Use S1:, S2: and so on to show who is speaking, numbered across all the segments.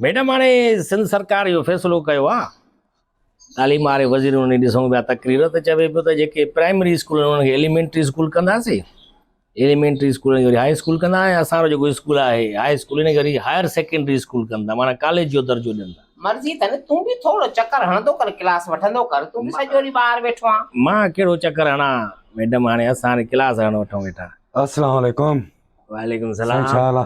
S1: Madam هاڻي سنڌ سرڪار اهو فيصلو ڪيو آهي تعليم واري وزير انهن ڏي ڏسون پيا تقرير ته چوي پيو ته جيڪي پرائمري اسڪول آهن انهن کي ايليمينٽري اسڪول ڪنداسي ايليمينٽري اسڪول جو هاء اسڪول ڪندا ۽ اسان جو جيڪو اسڪول آهي هاء اسڪول ان کي وري هائر سيڪنڊري اسڪول ڪندا معنيٰ ڪاليج جو درجو ڏيندا مرضي اٿن تون به
S2: ٿورو چڪر هڻندو ڪر ڪلاس وٺندو ڪر تون به سڄو ڏينهن ٻاهر ويٺو آهين مان ڪهڙو چڪر
S1: هڻان ميڊم هاڻي اسان هاڻي ڪلاس هڻڻ وٺون ويٺا السلام عليڪم
S3: وعليڪم سائين
S1: السلام ڇا حال آ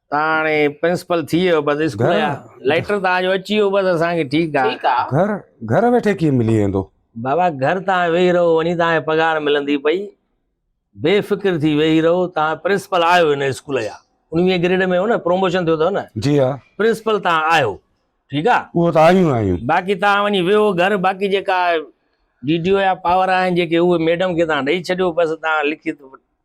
S1: تان هاڻي پرنسپل ٿي ويو بس اسڪول جا ليٽر تان جو اچي ويو بس اسان کي ٺيڪ آ گهر گهر
S2: ويٺي ڪيئن ملي
S3: ويندو بابا گهر تان
S1: ويهي رهو وڃي تان پگهار ملندي پئي بي فڪر ٿي ويهي رهو تان پرنسپل آيو هن اسڪول جا 19 گريڊ ۾ هو نه پروموشن ٿيو اٿو نه جي ها پرنسپل
S3: تان آيو
S1: ٺيڪ آ اهو تان آيون آيون
S3: باقي تان وڃي
S1: ويهو گهر باقي جيڪا ڊي ڊي او يا پاور آهن جيڪي اهي ميڊم کي تان ڏئي ڇڏيو بس تان لکت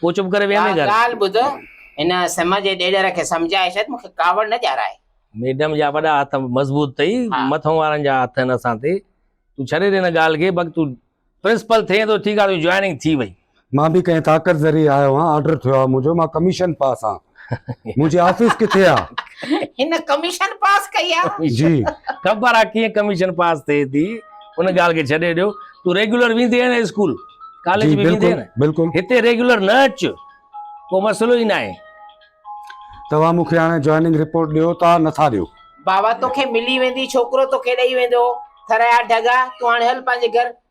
S1: پوء چپ ڪري ويهندين ڪا گهر. ڳالهه ٻڌ، هن
S2: سمه جي ڏيڏر کي سمجهائي ڇڏ، مون کي ڪاوڙ نه ڄارائي. ميڊم جا وڏا
S1: هٿ مضبوط اٿئي، ها. مٿئون وارن جا هٿ آهن اسان تي، تون ڇڏي ڏي هن ڳالهه کي، بق تون پرنسپل ٿئين ٿو، ٺيڪ آهي تنهنجي جوائننگ ٿي وئي. مان به ڪنهن طاقت
S3: ذريعي آيو آهيان، آرڊر ٿيو آهي منهنجو، مان ڪميشن پاس آهيان. منهنجي آفيس ڪٿي آ هن ڪميشن
S2: پاس ڪئي آ جي خبر
S3: آ ڪيئن
S1: ڪميشن پاس ٿئي ٿي ان ڳالهه کي ڇڏي ڏيو تو ريگولر ويندي آهي نه اسڪول ڪاليج به ويندي نه بلڪل
S3: هتي
S1: ريگولر
S3: نه اچ
S1: ڪو مسئلو ئي ناهي
S3: توهان مونکي هاڻي جوائننگ رپورٽ ڏيو ٿا نٿا ڏيو بابا توکي
S2: ملي ويندي ڇوڪرو توکي ڏئي ويندو ٿريا ڍڳا تون هاڻي هل پنهنجي گهر